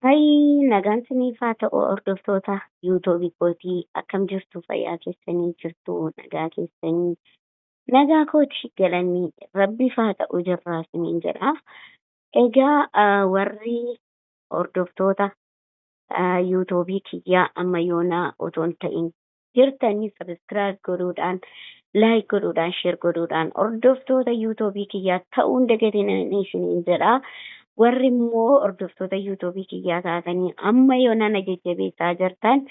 Hayii nagaan siniif haa ta'u hordoftoota yuutobi kootii akkam jirtu fayyaa keessanii jirtu nagaa keessanii nagaa kooti galanni rabbiif haa ta'u jirraa siniin jedha egaa ah, warri hordoftoota ah, yuutobii kiyyaa amma yoonaa otoo hin ta'in jirtani subscribe godhuudhaan like godhuudhaan share godhuudhaan hordoftoota yuutuubii kiyyaa ta'uu hin dagatinaan isiniin jedha warri immoo hordoftoota yuutuubii kiyyaa taatanii amma yoonaa na jajjabeessaa jirtan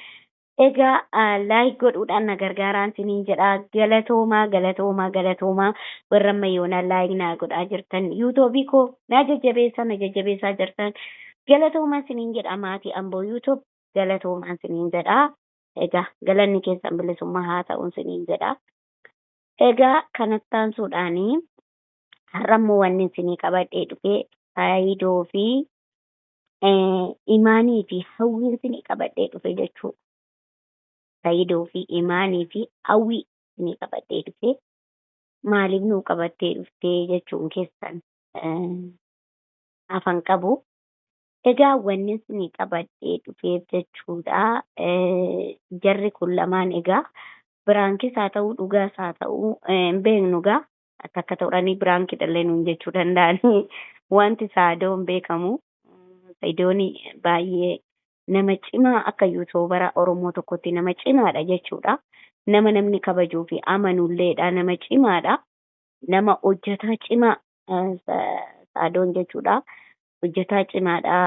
egaa ah, like godhuudhaan na gargaaraan isiniin jedha galatoomaa galatoomaa galatoomaa warra amma yoonaa like naa godhaa jirtan yuutuubii koo na jajjabeessaa na jajjabeessaa jirtan galatoomaa isiniin jedha maatii amboo yuutuub galatoomaa isiniin jedha. Egaa galanni keessan bilisummaa haa ta'u isiniin jedha. Egaa kanatti aansuudhaan har'a immoo wanni isinii qabadhee dhufe faayidoo fi imaanii fi hawwiin isinii qabadhee dhufe jechuudha. Faayidoo fi imaanii fi hawwii isinii qabadhee dhufe maaliif nuu qabattee dhuftee jechuun keessan afan qabu. Egaa wannin isinii qabadhee dhufeef jechuudha jarri kun lamaan egaa biraankis haa ta'uu dhugaas haa ta'uu hin beeknu egaa takka ta'uranii biraankidhallee nuun jechuu danda'anii wanti saadoo hin beekamu saidoon baay'ee nama cimaa akka yuutuubara oromoo tokkotti nama cimaadha jechuudha nama namni kabajuu fi amanulleedha nama cimaadha nama hojjetaa cimaa saadoon jechuudha hojjataa cimaadha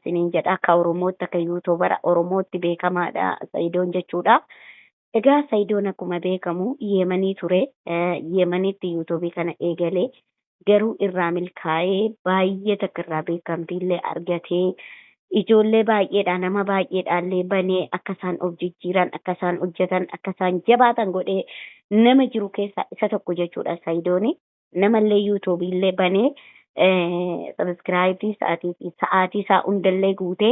siniin jedha akka oromootti akka yuutuubara oromootti beekamaadha sayidoon jechuudha egaa sayidoon akkuma beekamu yeemanii ture yeemanitti yuutuubii kana eegalee garuu irraa milkaa'ee baay'ee takka irraa beekamtiillee argatee ijoollee baay'eedha nama baay'eedhaallee banee akka isaan of jijjiiran akka isaan hojjetan akka isaan jabaatan godhee nama jiru keessaa isa tokko jechuudha sayidooni Namallee YouTube illee banee subscribe sa'aatii fi sa'aatii isaa hundallee guutee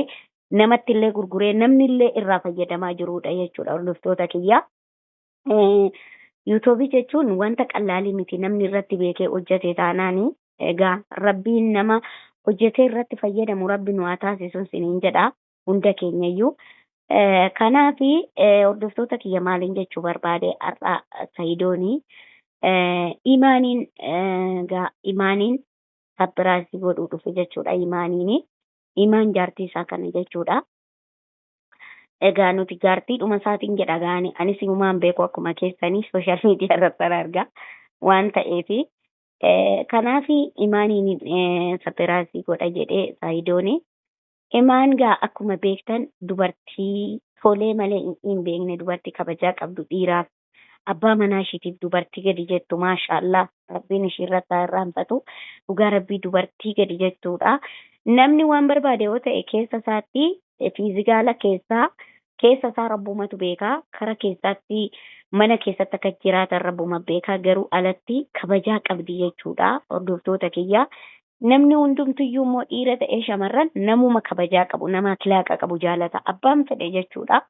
namatti illee gurguree namni illee irraa fayyadamaa jiruudha jechuudha hordoftoota kiyya. YouTube jechuun wanta qallaalii miti namni irratti beekee hojjete taanaani egaa rabbiin nama hojjetee irratti fayyadamu rabbi nu haa taasisu siniin jedha. hunda keenyayyuu. Kanaaf hordoftoota kiyya maaliin jechuu barbaade har'a Sayidoon imaaniin gaa imaaniin sappiraayisii godhuu dhufe jechuudha imaaniin imaan jaartii isaa kana jechuudha. Egaa nuti jaartii dhuma isaatiin jedha gaani anis himumaan beeku akkuma keessanii sooshaal miidiyaa irratti argaa waan ta'eef kanaaf imaaniin sappiraayisii godha jedhee Sayidoon Emaan gaa akkuma beektan dubartii tolee malee hin hin beekne dubartii kabajaa qabdu dhiiraaf abbaa manaa ishiitiif dubartii gadi jettu maashaallaah rabbiin ishiirratti haa irraanfatu dhugaa rabbii dubartii gadi jettuudha namni waan barbaade yoo ta'e keessa isaatti fiizigaala keessaa keessa isaa rabbumatu beeka kara keessaatti mana keessatti akka jiraatan rabbuma beeka garuu alatti kabajaa qabdi jechuudha hordoftoota kiyya Namni hundumtuyyuu immoo dhiira ta'ee shamarran namuma kabajaa qabu, nama akilaaqa qabu jaalata. Abbaan fedhe jechuudha.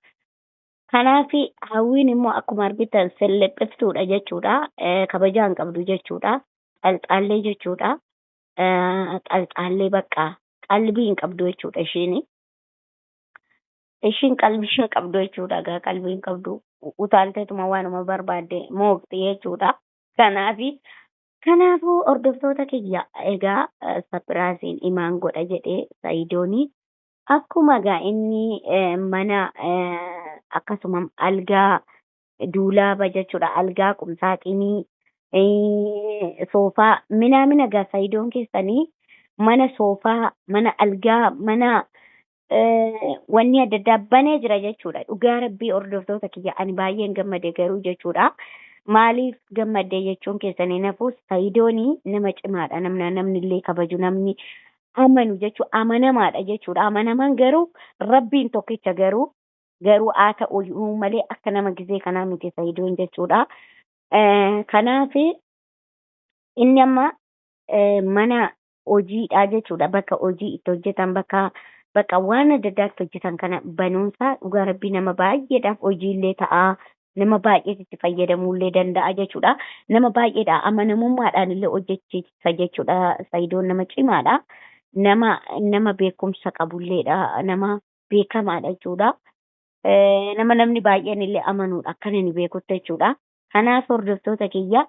Kanaaf hawwiin immoo akkuma argitan sellephiftuudha jechuudha. Eh, Kabajaa hin qabdu jechuudha. Xalxaallee jechuudha. Eh, Xalxaallee bakka qalbii hin qabdu jechuudha ishiin. Ishiin qalbii hin qabdu jechuudha. Egaa qalbii hin qabdu. U- Utaalteetuma waanuma barbaadde mooqxi jechuudha. Kanaaf Kanaafu hordoftoota kiyya egaa sapirasiin imaan godha jedhee saidoni akkuma egaa inni mana akkasumam algaa duulaaba jechudha algaa qumsaaxinii soofaa minaamina egaa saidoon keessanii mana soofaa mana algaa mana wanni adda addaa banee jira jechuudha. Dhugaa rabbii hordoftoota kiyya ani baay'een gammade garuu jechuudha. Maaliif gammadde jechuun keessan hin hafu sayidooni nama cimaadha namna namni illee kabaju namni amanu jechuu amanamaadha jechuudha. Amanamaan garuu rabbiin tokkicha garuu garuu haa ta'u iyyuu malee akka nama gizee kanaa miti sayidoon jechuudha. Eh, Kanaaf inni amma eh, mana hojiidhaa jechuudha bakka hojii itti hojjetan bakka bakka waan adda addaa itti hojjetan kana banuunsaa dhugaa rabbii nama baay'eedhaaf hojiillee ta'a nama baay'ees itti fayyadamuullee danda'a jechuudha nama baay'eedha amanamummaadhaan illee hojjechiisa jechuudha sayidoon nama cimaadha nama nama beekumsa qabulleedha nama beekamaadha jechuudha nama namni baay'een illee amanuudha akkan inni beekutti jechuudha Kanaaf hordoftoota kiyya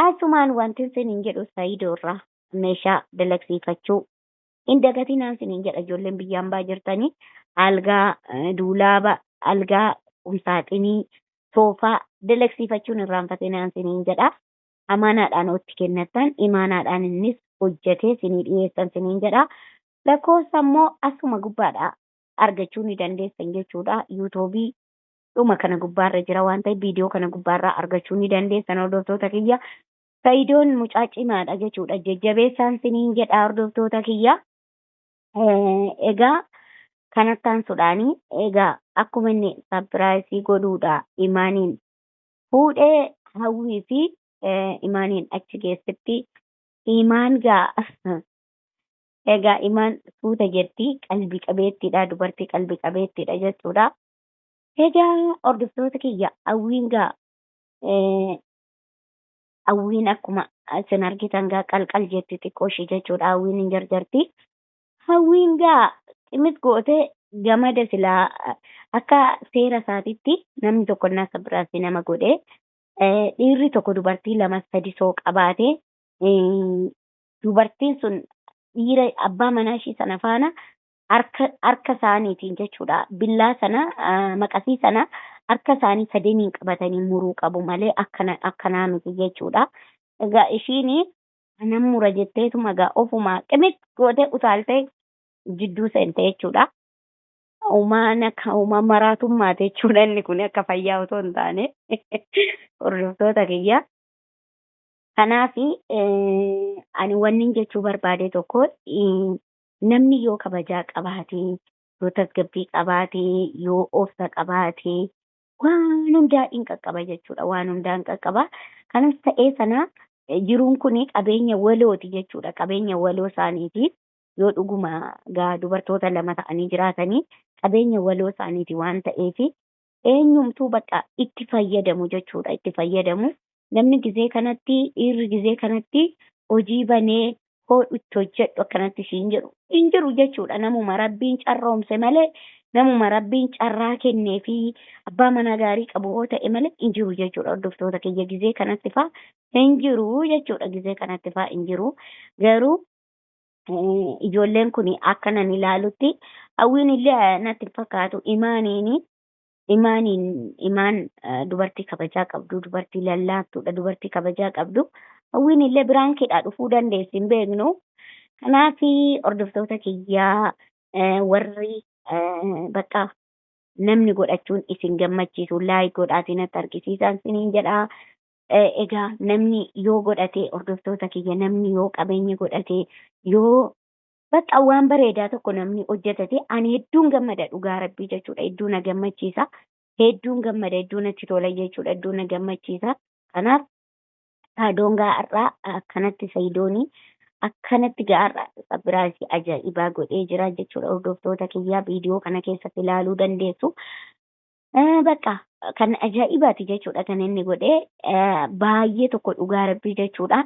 asumaan wantin sinin jedhu Saidoo irraa meeshaa dalagsiifachuu hin dagatinaan sinin jedha ijoolleen biyya ambaa jirtanii algaa eh, duulaaba algaa qumsaaxinii soofaa dalagsiifachuun irraanfatinaan sinin jedha amaanaadhaan otti kennattan imaanaadhaan innis hojjetee sinii dhiyeessan sinin jedha lakkoofsa immoo asuma gubbaadha argachuu ni dandeessan jechuudha yuutuubii dhuma kana gubbaa irra jira waan ta'eef viidiyoo kana gubbaa irraa argachuu ni dandeessan hordoftoota kiyya. Sayidoon mucaa cimaadha jechuudha jajjabeessaan siniin jedha hordoftoota kiyya. Egaa kan attaansuudhaani egaa akkuma inni sapiraayisii godhuudha imaaniin fuudhee hawwii fi imaaniin achi geessitti imaan gaa egaa imaan suuta jetti qalbii qabeettiidha dubartii qalbii qabeettiidha jechuudha Egaa hordoftoota kiyya hawwiin gaa eh, hawwiin akkuma isin argitan gaa qalqal jetti xiqqoo ishii jechuudha hawwiin hin jarjarti. Hawwiin gaa cimit goote gamada silaa eh, akka seera isaatitti namni tokko innaa akka biraatti nama godhe eh, dhiirri tokko dubartii lama sadi soo qabaate eh, dubartiin sun dhiira abbaa manaa ishii sana faana harka harka isaaniitiin jechuudha billaa sana ah, maqasii sana harka isaanii sadeniin qabatanii muruu qabu malee akkana akkanaa miti jechuudha. Egaa ishiin anan mura jetteetuma egaa ofumaa qimit gootee utaaltee jidduu seente jechuudha. Uumaan akka uumaa maraatummaati jechuudha inni kun akka fayyaa otoo hin taane hordoftoota kiyya. Kanaaf ani wannin jechuu barbaade tokko eh, Namni yoo kabajaa qabaate, yoo tasgabbii qabaate, yoo obsa qabaate waan hundaa in qaqqaba jechuudha. Waan hundaa in qaqqaba. Kanas ta'ee sana jiruun kun qabeenya walooti jechuudha. Qabeenya waloo isaaniiti. Yoo dhuguma gaa dubartoota lama ta'anii jiraatanii qabeenya waloo isaaniiti waan ta'eef eenyumtuu bakka itti fayyadamu jechuudha itti fayyadamu namni gizee kanatti dhiirri gizee kanatti hojii banee koodhu itti hojjedhu akkanatti siin jedhu hin jiru jechuudha namuma rabbiin carroomse malee namuma rabbiin carraa kennee fi abbaa manaa gaarii qabu yoo ta'e malee hin jiru jechuudha hordoftoota kiyya gizee kanatti faa hin jiru jechuudha gizee kanatti faa hin jiru garuu ijoolleen kun akka nan ilaalutti hawwiin illee natti hin fakkaatu imaaniin imaaniin imaan dubartii kabajaa qabdu dubartii lallaaftuudha dubartii kabajaa qabdu hawwiin illee biraan keedhaa dhufuu dandeessi hin beeknu kanaaf hordoftoota kiyyaa warri bakka namni godhachuun isin gammachiisu laayik godhaatii natti argisiisaan siniin jedhaa Egaa namni yoo godhate hordoftoota kiyya namni yoo qabeenya godhate yoo bakka waan bareedaa tokko namni hojjetate ani hedduun gammada dhugaa rabbii jechuudha hedduu na gammachiisa hedduun gammada hedduu natti tola jechuudha hedduu na gammachiisa kanaaf saadoon gaa'arraa akkanatti sayidoonii akkanatti gaa'arra sabiraasii ajaa'ibaa godhee jira jechuudha hordoftoota kiyyaa viidiyoo kana keessatti ilaaluu dandeessu Bakka kan ajaa'ibaati jechuudha kan inni godhe baay'ee tokko dhugaa rabbii jechuudha.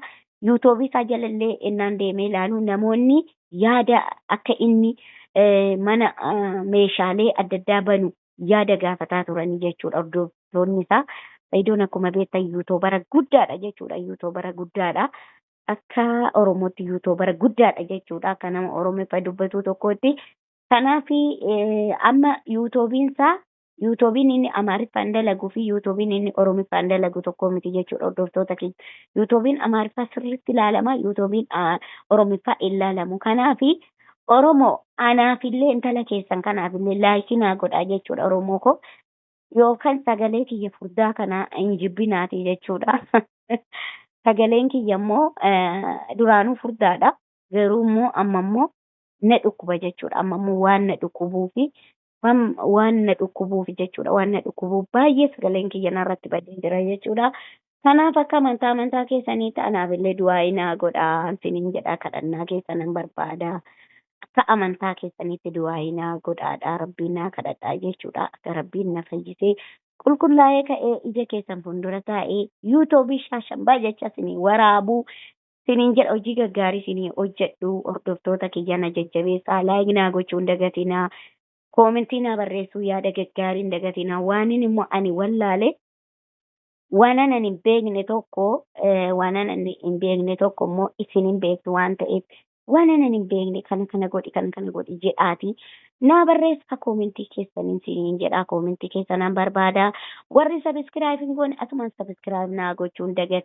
Yuutuubii isaa jalallee innaan deemee ilaalu namoonni yaada akka inni mana meeshaalee adda addaa banu yaada gaafataa turanii jechuudha hordoftoonni isaa. Sayidoon akkuma beektan yuutuubara guddaadha jechuudha yuutuubara guddaadha. Akka Oromootti yuutuubara guddaadha jechuudha akka nama Oromiffa dubbatuu tokkootti Kanaaf amma yuutuubiin isaa yuutuubiin inni amaariffaan dalagu fi yuutuubiin inni oromiffaan dalagu tokko miti jechuudha hordoftoota keenya. Yuutuubiin amaariffaa sirriitti ilaalama yuutuubiin oromiffaa hin ilaalamu. Kanaaf oromoo anaafillee intala keessan kanaafillee laayikii naa godhaa jechuudha oromoo koo. Yookaan sagalee kiyya furdaa kana hin jibbinaati jechuudha. Sagaleen kiyya immoo duraanuu furdaadha. Garuu immoo amma immoo na dhukkuba jechuudha. Amma immoo waan na dhukkubuufi waan waan na dhukkubuufi jechuudha. Waan na dhukkubuuf baay'ee sagaleen kiyya narratti badee jira jechuudha. Kanaaf akka amantaa amantaa keessaniitti anaaf illee du'aa'ii naa godhaa isiniin jedhaa kadhannaa keessanan barbaada. Akka amantaa keessaniitti du'aa'ii naa godhaadhaa rabbiin naa kadhadhaa jechuudha. Akka rabbiin na fayyisee qulqullaa'ee ka'ee ija keessan fuuldura taa'ee yuutuubii shaashambaa jecha isinii waraabuu sinin jedha hojii gaggaarii sini hojjedhu hordoftoota kiyya na jajjabeessaa like naa gochuu hin dagatinaa koomentii naa barreessuu yaada gaggaarii hin dagatinaa waanin immoo ani wallaale waanan ani hin beekne tokko eh, waanan ani hin beekne tokko immoo isin hin beektu waan ta'eef waanan ani hin beekne kana kana godhi kana kana godhi jedhaati naa barreessaa koomentii keessaniin siniin jedhaa koomentii keessanaan barbaadaa warri sabiskiraayib hin goone asumaan sabiskiraayib naa gochuun dagate.